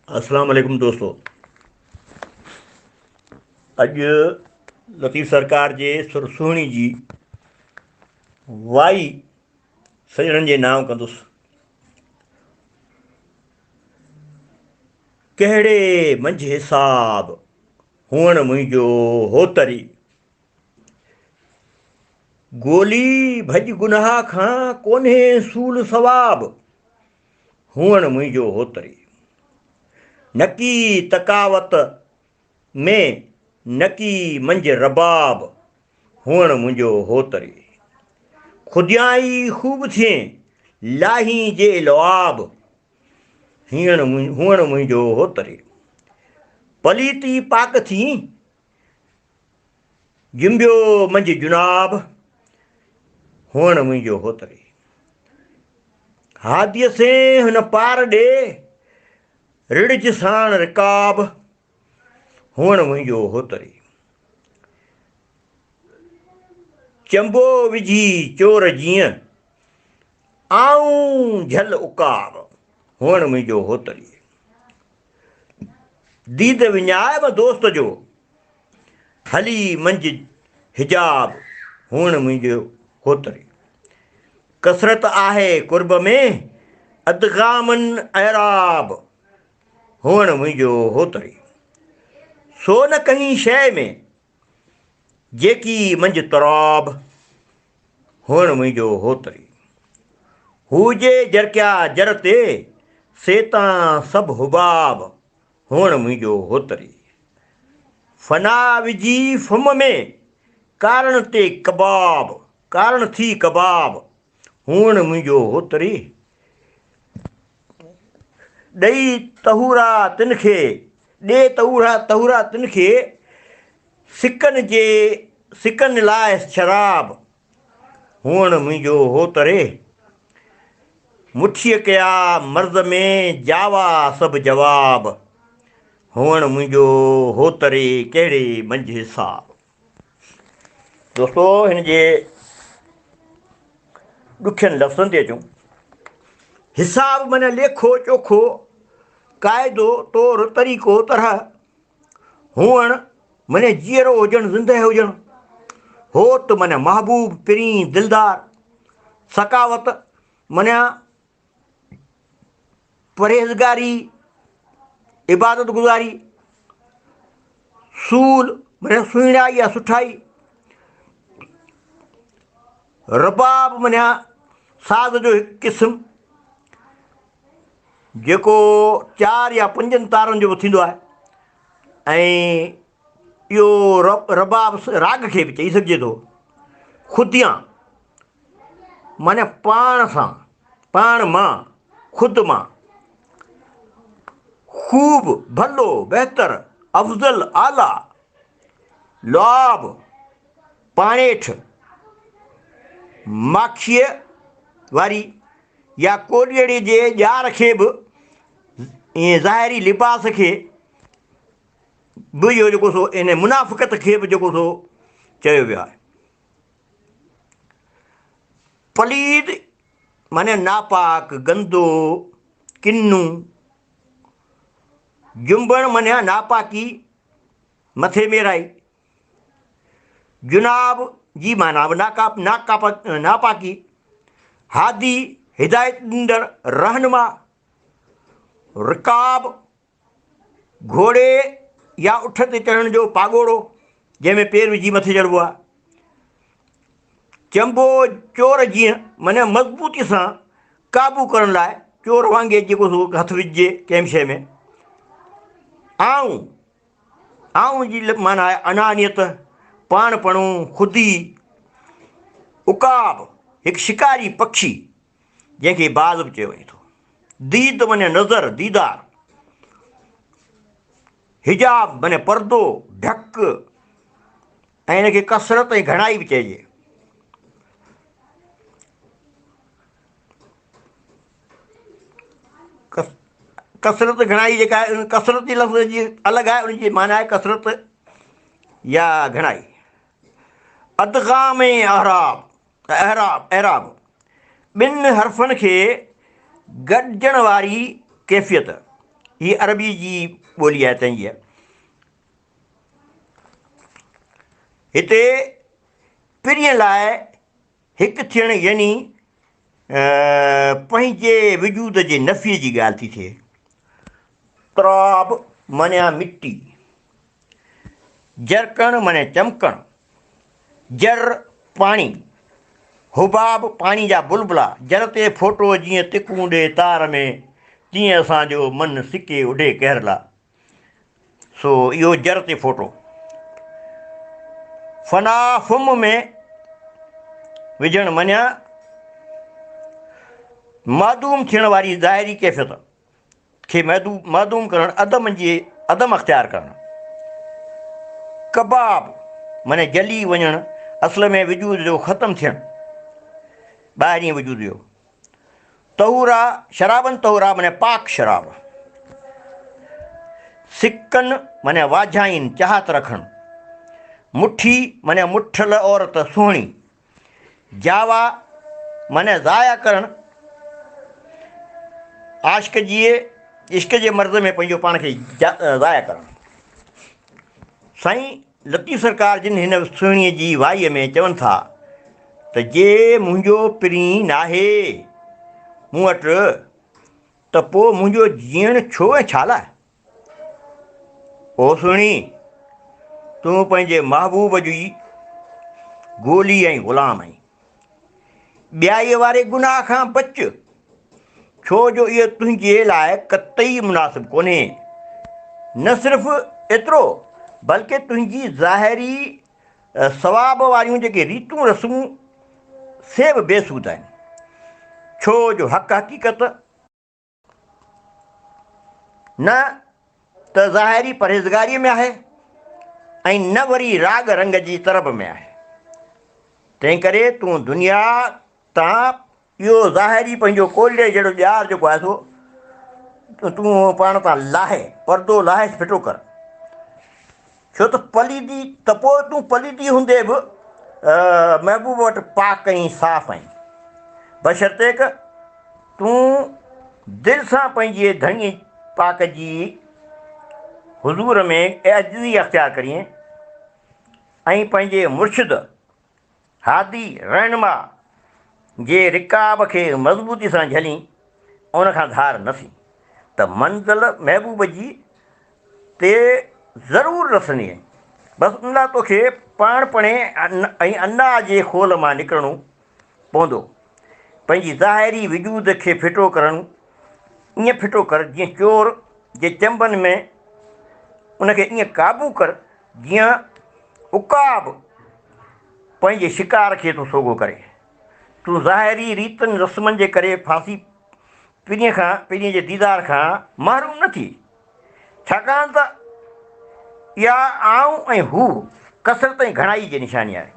اسلام عليڪم دوستو اڄ لطيف سرڪار جي سر سهڻي جي وائي سڄڻن جي نانء ڪندس ڪهڙي منجهه حساب هئڻ منهنجو هوتري ڳولي ڀڄ گناهه کان، ڪونهي سول ثواب، هئڻ منهنجو هوتري. نڪي تقاوت ۾، نڪي منجهه رباب، هئڻ منهنجو هوتري. خوديائي خوب ٿئين، لاهين جي لعاب، هئڻ منهنجو هوتري. پليتي پاڪ ٿئين، جنبيو منجهه جناب هئڻ منهنجو هوتري هاديء سين هن پار ڏي رڙج ساڻ رڪاب هئڻ منهنجو هوتري چنبو وجهي چور جيئن آئون جھل اڪاب هئڻ منهنجو هوتري ديد وڃائب دوست جو، هلي منجھ حجاب هئڻ منهنجو هوتري. ڪثرت آهي قرب ۾ ادغامن اعراب هئڻ منهنجو هوتري. سو نه ڪنهين شيء ۾ جيڪي منجهه تراب، هئڻ منهنجو هوتري. هو جي جرڪيا جر تي، سي تان سڀ حباب، هئڻ منهنجو هوتري. فنا وجهي فم ۾، ڪارڻ تي ڪباب، ڪارڻ ٿي ڪباب، هونئن منهنجو هوتري ڏئي تهورا تن کي، ڏي تهورا تهورا تن کي، سڪن جي سڪن لاء شراب، هونئن منهنجو هوتري مٺيء ڪيا مرض ۾ جاوا سڀ جواب، هونئن منهنجو هوتري ڪهڙي منجهه حساب. دوستو هن جي ڏکين لفظن تي اچون. حساب من ليکو چوکو قاعدو طور طريقو طرح هئڻ من جيئرو هجڻ زندهه هجڻ هوت من محبوب پرين دلدار ثقاوت من پرهيزگاري، عبادت گذاري، سول معنی سهڻائي يا سٺائي رباب معنی ساز جو هڪ قسم جيڪو چار يا پنجن تارن جو به ٿيندو آهي ۽ اهو رباب راڳ کي به چئي سگهجي ٿو خديان معني پاڻ سان، پاڻ مان، خود مان، خوب، ڀلو، بهتر، افضل، اعليٰ، لعاب، پاڻيٺ، ماکيء واري يا ڪوڏيئڙي جي ڄار کي به ۽ ظاهري لباس کي به اهو جيڪو سو ان منافقت کي به جيڪو سو چيو ويو آهي. پليد معني ناپاڪ، گندو، ڪنو. جنبڻ معني ناپاڪي، مٿي ميرائي. جناب جي معنيٰ به ناپاڪي. هادي، هدايت ڏيندڙ، رهنما. رڪاب، گهوڙي يا اٺ تي چڙهڻ جو پاڳوڙو، جنهن ۾ پير وجهي مٿي چڙهبو آهي. چنبو چور جيئن مني مضبوطي سان قابو ڪرڻ لاء چور وانگي جيڪو سو هٿ وجهجي ڪنهن به شيء ۾. آئون، آئون جي معنيٰ آهي انانيت، پاڻپڻو، خودي. عقاب، هڪ شڪاري پکي جنهن کي باز به چيو وڃي ٿو. ديد معني نظر، ديدار. حجاب معني پردو، ڍڪ، ۽ ان کي ڪثرت ۽ گهڻائي به چئجي. ڪثرت گهڻائي جيڪا آهي ان ڪثرت جي لفظ جي الڳ آهي ان جي معنيٰ آهي ڪثرت يا گهڻائي. ادغام ۽ اعراب اعراب، I'rab، ٻن حرفن کي گڏجڻ واري ڪيفيت، هي عربيء جي ٻولي آهي تنهنجيء هتي پرينء لاء هڪ ٿيڻ يعني پنهنجي وجود جي نفيء جي ڳالهه ٿي ٿئي. تراب معنيٰ مٽي. جرڪڻ معني چمڪڻ، جر، پاڻي، حباب، پاڻي جا بلبلا، جر تي ڦوٽو جيئن تکون ڏي تار ۾، تيئن اسان جو من سڪي اڍي قهر لا. سو اهو جر تي ڦوٽو. فنا فم ۾ وجهڻ معني معدوم ٿيڻ واري ظاهري ڪيفيت. کي معدوم ڪرڻ، عدم جي عدم اختيار ڪرڻ. ڪباب معني جلي وڃڻ، اصل ۾ وجود جو ختم ٿيڻ، ٻاهرين وجود جو. طهورا شرابن طهورا معني پاڪ شراب. سڪن معني واجهائين، چاهت رکڻ. مٺي معني مٺل عورت، سهڻي. جاوا معني ضايع ڪرڻ، عاشق جي عشق جي مرض ۾ پنهنجو پاڻ کي ضايع ڪرڻ. سائين لطيف سرڪار جن هن سهڻيء جي وائيء ۾ چون ٿا ته جي منهنجو پرين ناهي مون وٽ ته پوء منهنجو جيئڻ ڇو ۽ ڇالاء؟ او سهڻي! تون پنهنجي محبوب جو ئي گولي ۽ غلام آهين. ٻيائيء واري گناهه کان بچ، ڇو جو اهو تنهنجي لاء قطعي مناسب ڪونهي. نه صرف ايترو، بلڪه تنهنجي ظاهري ثواب واريون جيڪي ريتون رسمون، سي به بي سود آهن، ڇو جو حق حقيقت، نه ته ظاهري پرهيزگاريء ۾ آهي ۽ نه وري راڳ رنگ جي طرب ۾ آهي. تنهن ڪري تون دنيا تان اهو ظاهري پنهنجو ڪولهي جهڙو ڄار جيڪو آهي سو تون پاڻ تان لاهي، پردو لاهيس ڦٽو ڪر. ڇو ته پليدي ته پوء تون پليدي هوندي به محبوب وٽ پاڪ ۽ صاف آهين، بشرطيڪ تون دل سان پنهنجي ڌڻيء پاڪ جي حضور ۾ عاجزي اختيار ڪرين ۽ پنهنجي مرشد هادي رهنما جي رڪاب کي مضبوطي سان جهلين، ان کان ڌار نه ٿين ته منزل محبوب جي تي ضرور رسندينء. بس ان لاء توکي پاڻپڻي ۽ انا جي خول مان نڪرڻو پوندو، پنهنجي ظاهري وجود کي ڦٽو ڪرڻو، ائين ڦٽو ڪر جيئن چور جي چنبن ۾، ان کي ائين قابو ڪر جيئن عقاب پنهنجي شڪار کي ٿو سوگهو ڪري. تون ظاهري ريتن رسمن جي ڪري ڦاسي پرينء کان پرينء جي ديدار کان محروم نه ٿي، ڇاڪاڻ ته اها آئون ۽ هو ڪثرت ۽ گهڻائي جي نشاني آهي،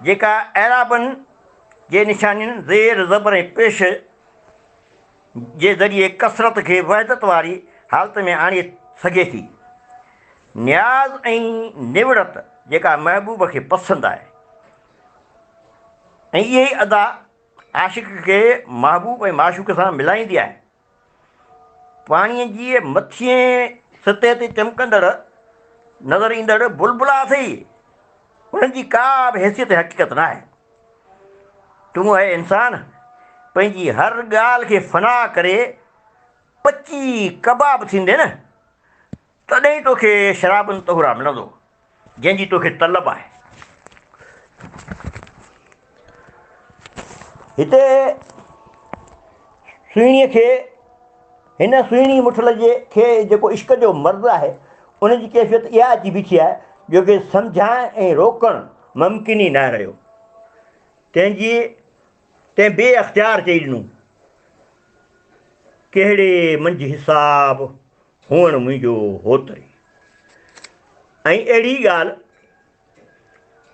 جيڪا اعرابن جي نشانين زير، زبر ۽ پيش، جي ذريعي ڪثرت کي وحدت واري حالت ۾ آڻي سگهي ٿي. نياز ۽ نوڙت جيڪا محبوب کي پسند آهي ۽ اها ئي ادا عاشق کي محبوب ۽ معشوق سان ملائيندي آهي. پاڻيء جي مٿينء سطح تي چمڪندڙ نظر ايندڙ بلبلا اٿئي، انهن جي ڪا به حيثيت ۽ حقيقت ناهي. تون اي انسان! پنهنجي هر ڳالهه کي فنا ڪري پچي ڪباب ٿيندين نه، تڏهن ئي توکي شراب طهورا ملندو، جنهن جي توکي طلب آهي. هتي سهڻيء کي هن سهڻي مٺل جي کي جيڪو عشق جو مرض آهي ان جي ڪيفيت اها اچي بيٺي آهي جو کي سمجهائڻ ۽ روڪڻ ممڪن ئي ناهي رهيو. تنهن جي تنهن بي اختيار چئي ڏنو ڪهڙي منجهه حساب هئڻ منهنجو هوتري ۽ اهڙي ڳالهه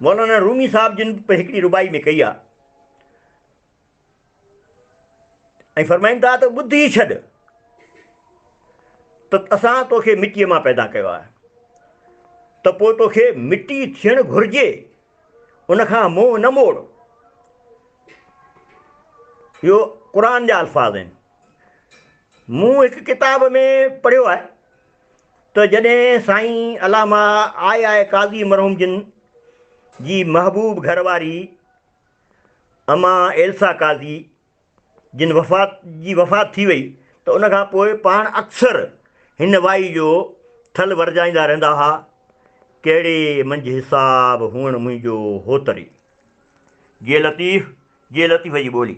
مولانا رومي صاحب جن به هڪڙي رباعي ۾ ڪئي آهي ۽ فرمائن ٿا ته ٻڌ ئي ڇڏ ته اسان توکي مٽيء مان پيدا ڪيو آهي ته پوء توکي مٽي ٿيڻ گهرجي ان کان منهن نه موڙ اهو قرآن جا الفاظ آهن مون هڪ ڪتاب ۾ پڙهيو آهي ته جڏهن سائين علامه آء آء قاضي مرحوم جن جي محبوب گهر واري امان ايلسا قاضي جن وفات جي وفات ٿي وئي ته ان کان پوء پاڻ اڪثر هن وائي جو ٿل ورجائيندا رهندا ها، ڪهڙي منجهه حساب هئڻ منهنجو هو تري. جي لطيف، جي لطيف جي ٻولي.